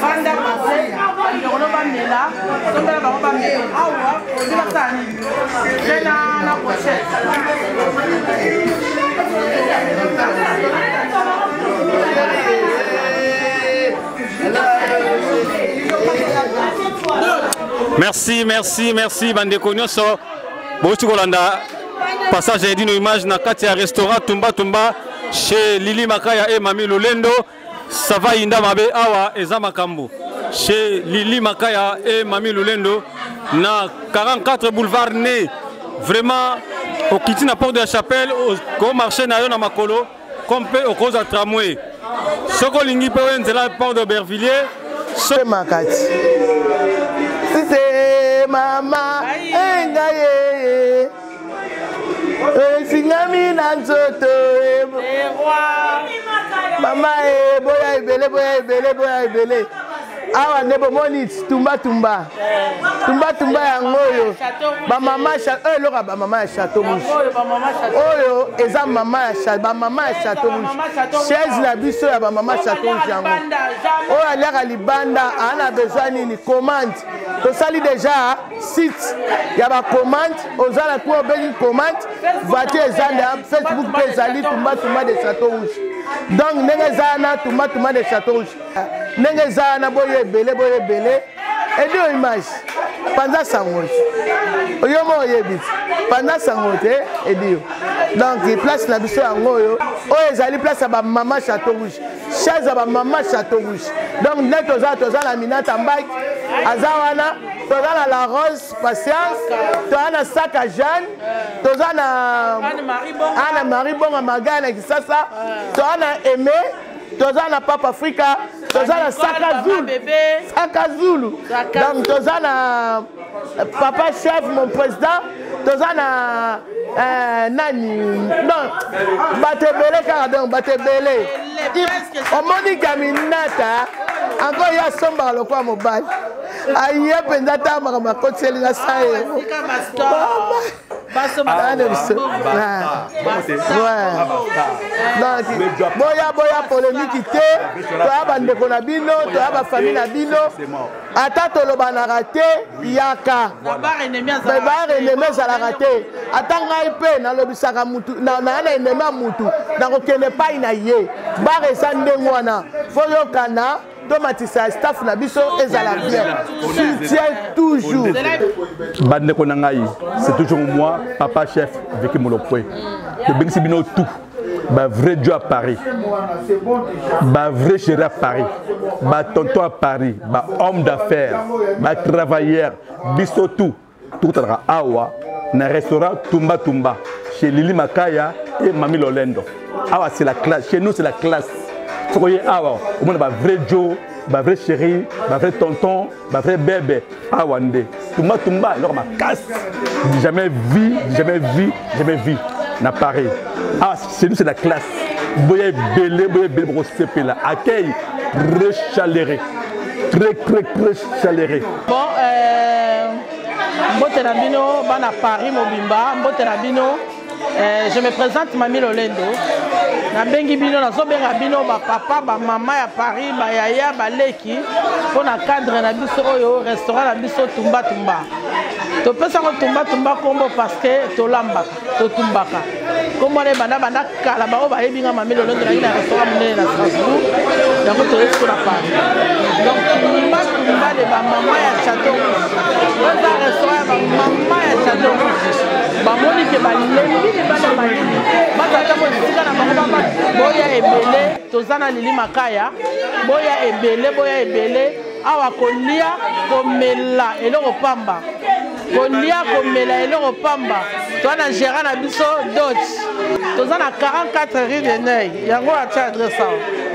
banda base bandokolo bamela tombela bango bamela awa ozi basala nini mpe na na prochete merci merci merci bandeko nyonso bouti kolanda passage ya edino image na kati ya restaurant tumba tumba chez lili makaya et mami lolendo sava yinda mabe awa eza makambo chez lili makaya e mami lulendo na 44 boulevard ne vraiment okiti na porte de la chapelle okomarche na yo na makolo comme mpe okozwa tramway soki olingi mpe oye nzela porte de bervillier so... makati sise mama engaye esingami na nzoto mama e boya ebele boya ebele boya ebele awa nde bomoni tumbatumba tumbatumba yango oyo bamama oyo eloka bamama ya chateau rouge oyo eza mama ya bamama ya chateau rouge chaise na biso ya bamama chateau rouge yango oyo aliaka libanda ana besoin nini commande tosali deja site ya bacommande oza na kuna obengi commande voiture eza na facebook mpe ezali tumbatumba de chateau rouge donc ndenge eza wana tumbatumba de chateau rouge ndenge eza wana boyo ebele boyo ebele edio image panza sango te yo moko oyebi panza sango te edio donc place na biso yango oyo oyo ezali place ya bamama chateau rouge chaise ya bamama chateau rouge donc nde toza toza na minata mbaki aza wana toza na la rose patience toza na saka jeanne toza na ana marie bonga magaya na kisasa toza na aime toza na papa afrika toza na saka zulu saka zulu donc toza na papa chef mon président toza na euh, nani non bato ebele kaka donc bato ebele omoni kaminata encore ye asombaka lokola mobali aye mpenza ata makambo akotiseli na sa ye boya boya polemiki te toya bandeko na bino toya bafamille na bino ata tolobanaka te yaka bar enemi ezalaka te ata ngai mpe nalobisaka mutu naya na enemi ya mutu nakokende epai na ye bar eza ndenge wana foyokana tomatisa staff na biso ezala bien soutien toujours bandeko na ngai c'est toujours moi papa chef viki molopwe tobengisi bino tout ba vrai Dieu à Paris ba vrai chéri à Paris ba tonton à Paris ba homme d'affaires ba travailleur biso tout tokotalaka awa na restaurant tumba tumba chez Lili Makaya et Mami Lolendo awa c'est la classe chez nous c'est la classe soki oye awa omona ba vrai Joe ba vrai chéri ba vrai tonton ba vrai bebe awa nde tumba tumba eloko makasi jamais vu jamais vu jamais vu na paris awa ah, chez nous c'est la classe boya ebele boya ebele bokosepela accueil très chaleureux très très très chaleureux bon euh, mbote na bino bana paris mobimba mbote na bino Eh, je me présente Mami Lolendo. nabengi bino nazobenga bino bapapa bamama ya paris bayaya baleki mpo na cadre na biso oyo restaurant na biso tumbatumba topesango tumbatumba nkombo parceke tolambaka totumbaka nkombo wana ebanda banda kala baoyo bayebi nga mami lolendo nangi na restaurant monene na strasbourg yango toyesi mpo na paris donc tumbatumba de bamama ya chateau rouge oza restaurant ya bamama ya chateau rouge bamoni ke balembi libanda malili batata mosika na bango baba boya ebele toza na lili makaya boya ebele boya ebele awa kolia komela eloko pamba kolia komela eloko pamba toza na gérant na biso dot toza na 44 rue de neuil yango atya adresse awa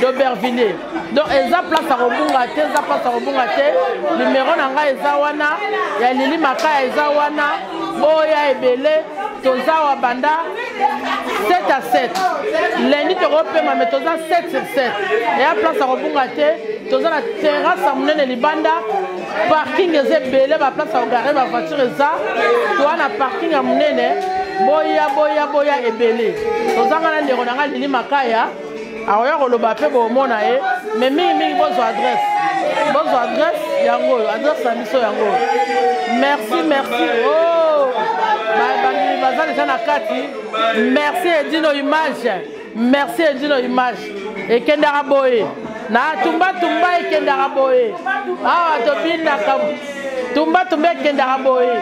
d'Aubervilliers. Donc, eza place à Robunga, eza place à Robunga, numéro nanga eza wana, ya Lili Makaya eza wana, boya ebele, toza wa banda 7 à 7. Lundi tokopema mais toza 7 sur 7. Et à place à Robunga, toza na terrasse ya monene libanda parking eza ebele baplace ya kogare bavoiture eza toa na parking ya monene boya boya boya ebele tozanga na ndeko na ngai lili makaya akoya koloba mpe bomona ye mais mingimingi bozwa adresse bozwa adresse yango oyo adresse na biso yango oyo merci merci o oh, bandimi baza deja na kati merci edino image merci edino image ekendaka boye na tumbatumba ekendaka boye awa tobinaka tumbatumba ekendaka boye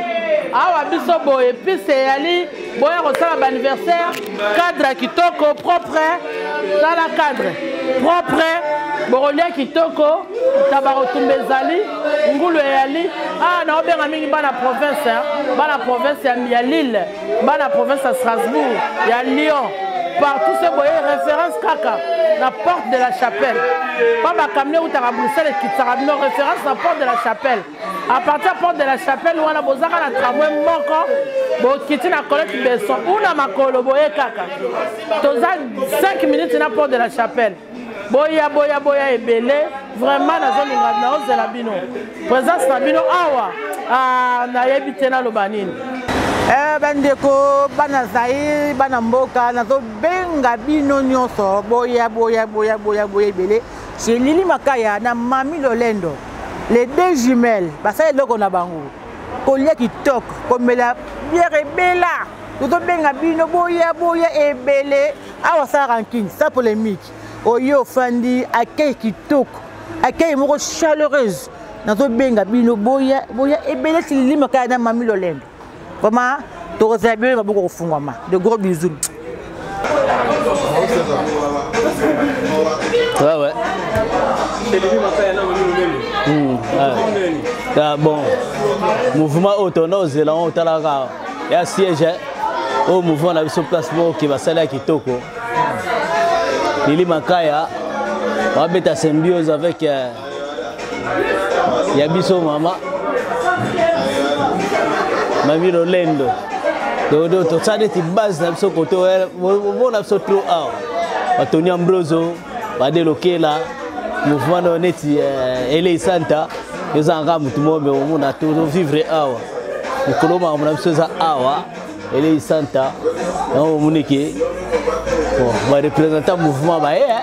awa biso boye pise eyali boya kosala baanniversaire cadre kitoko propre tala cadre propre bokolia kitoko tabakotumba ezali ngulu eyali awa ah, naobenga mingi bana province bana province ya lille bana province ya strasbourg ya lyon partout se boye référence kaka na porte de la chapelle mpo bakamio eutaka bruxelles ekitisaka bino référence na porte de la chapelle à partir porte de la chapelle wana bozaka na tramway moko bokiti na colete beson una makolo boye kaka toza 5 minutes na porte de la chapelle boya boya boya ebele vraiment nazolinga naozela bino présence na bino awa ah, nayebi te naloba nini Eh, bandeko bana zaire bana mboka nazobenga bino nyonso boya boya boya boya boya ebele chez lili makaya na mami lolendo les deux jumelles basala eloko na bango kolia kitoko komela biere ebela tozobenga bino boya boya ebele awa sa rankine sa polémique oyo ofandi akei kitoko akei moko chaleureuse nazobenga bino boya boya ebele tililima kaya na mami lolendo vraiment tokozala bino maboko kofungwama de gros bisous Ouais, ouais. Mmh, ouais. Ah, bon, mouvement oyo tonda ozela yango otalaka ya siège oyo oh, mouvement na biso place moko ke basali ya kitoko lili makaya babeta symbiose avec euh, ya biso mama mami lolendo dodo tosala neti base na biso kote omona biso tro awa batoni ambroso badelokela mouvement nayo neti eh, elei santa ezanga kaka motu moko me omona tovivre awa mikolo makambo na biso eza awa elei santa yango omoni ke barepresentant mouvement baye eh.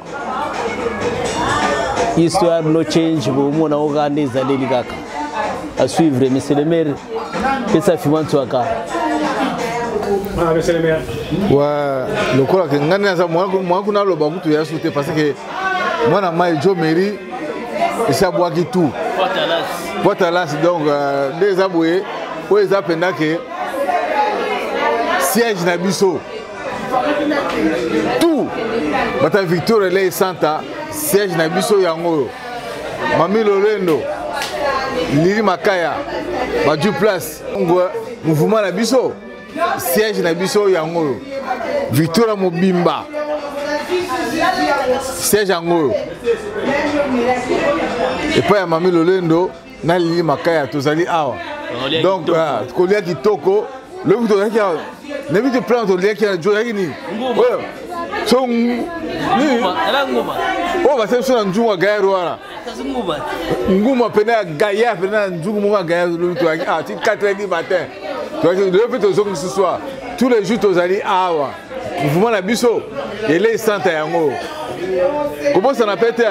histoire no change bomona ngo kaka nde ezaleli kaka à suivre monsieur le maire pesa fima ntuaka ah, wa lokola ke ngai naza mwa kuna aloba kutu ya su te parce que mwana mai jo mairie esi abwaki tout potalas donc euh, nde eza boye oyo eza mpenza ke siège na biso tout bata victor elei santa siège na biso yango oyo mami lolendo lili makaya baju place mouvement na biso siège na biso yango oyo victoria mobimba siège yango oyo epai ya mami lolendo nalingi makaya tozali awa donc ah, kolia kitoko lobi tozalaki awa nayebi te plan toliaki tozalaki nini oyo so nini oyo basali biso na nzungu ya gayar wana nguma mpena ya gayar mpena na nzungu moko ya gayar lobi tozalaki awa ti 4 heures du matin tozalaki lobi mpe tozongi lisusu awa tous les jours tozali awa mouvement na biso elei santa yango kobosana mpe te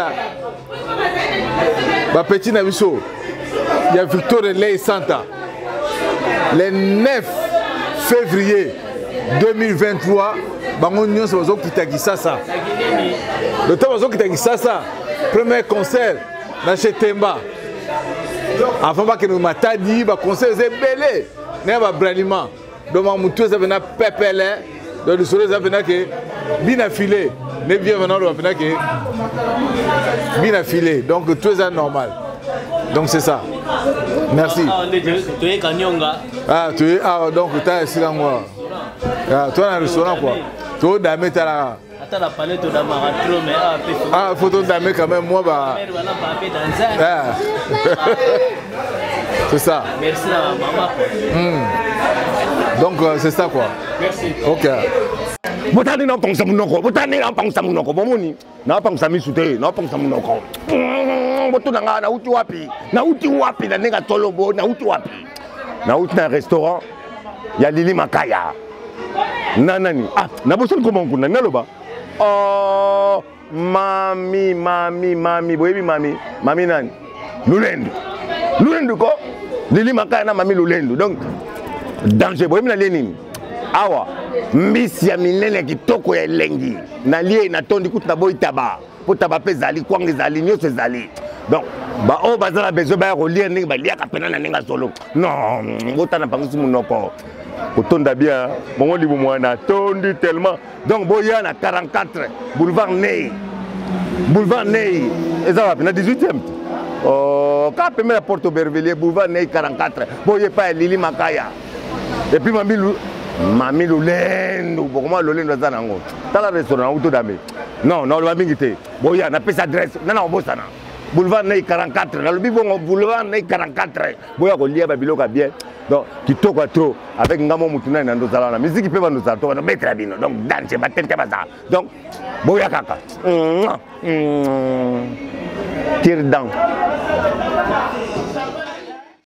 bapeti na biso ya victoria ley santa le 9 février 2023 bango nyonso bazokita kisasa loto bazokita kisasa premier concert na chez temba avant bakende matadi baconcert eza ebele na ya babraliment donc mutu eza pena pepele donc lisolo eza pena ke bina file ne bien vena oloba pena ke bina file donc tout eza normal donc c'est ça merci ah tu es ah donc ta esika ngo ah toi na restaurant quoi to dame talaka Ata la palette de Maratro, mais ah, ah, photo d'Amé quand même, moi, bah. Ah. c'est ça. Merci à maman. Hmm. Donc, euh, c'est ça quoi. Merci. Ok. botani napangisa monoko botani napangisa monoko bomoni napangisa misu te napangisa monoko hmm, botuna ngai nauti wapi nauti wapi na ndenge atolobo nauti wapi nauti na restaurant ya lili makaya na nani ah nabosani koma nkunda naloba oh, mami mami mami boyebi mami mami nani lulendu lulendu ko lili makaya na mami lulendu donc danger boyebi nalie nini awa mbisi ya minene ya kitoko ya elengi nalie natondi kutu naboyi taba potaba mpe ezali kwanga ezali nyonso ezali donc baoyo baza na besoin baya kolia ndenge baliaka mpena na ndenge azolo non bota na bangisi monoko kotonda bien bongo libu mwana tondi tellement donc boya na 44 boulevard nei boulevard nei eza wapi na 18e oh, ka pembe ya porte aubervillier boulevard nei 44 boye epai ya lili makaya epuis mami mami lolendo bokoma lolendo aza na yango tala restaurant auto dame non naloba mingi te boya napesa adresse nana obosana boulevard nei 44 nalobi bongo boulevard nei 44 boya kolia babiloko ya bien donc kitoko ya trop avec ngai mo motu nani na ndozala wana miziki mpe bandozala to banobetela bino donc danse batente bazala donc boya kaka kirdan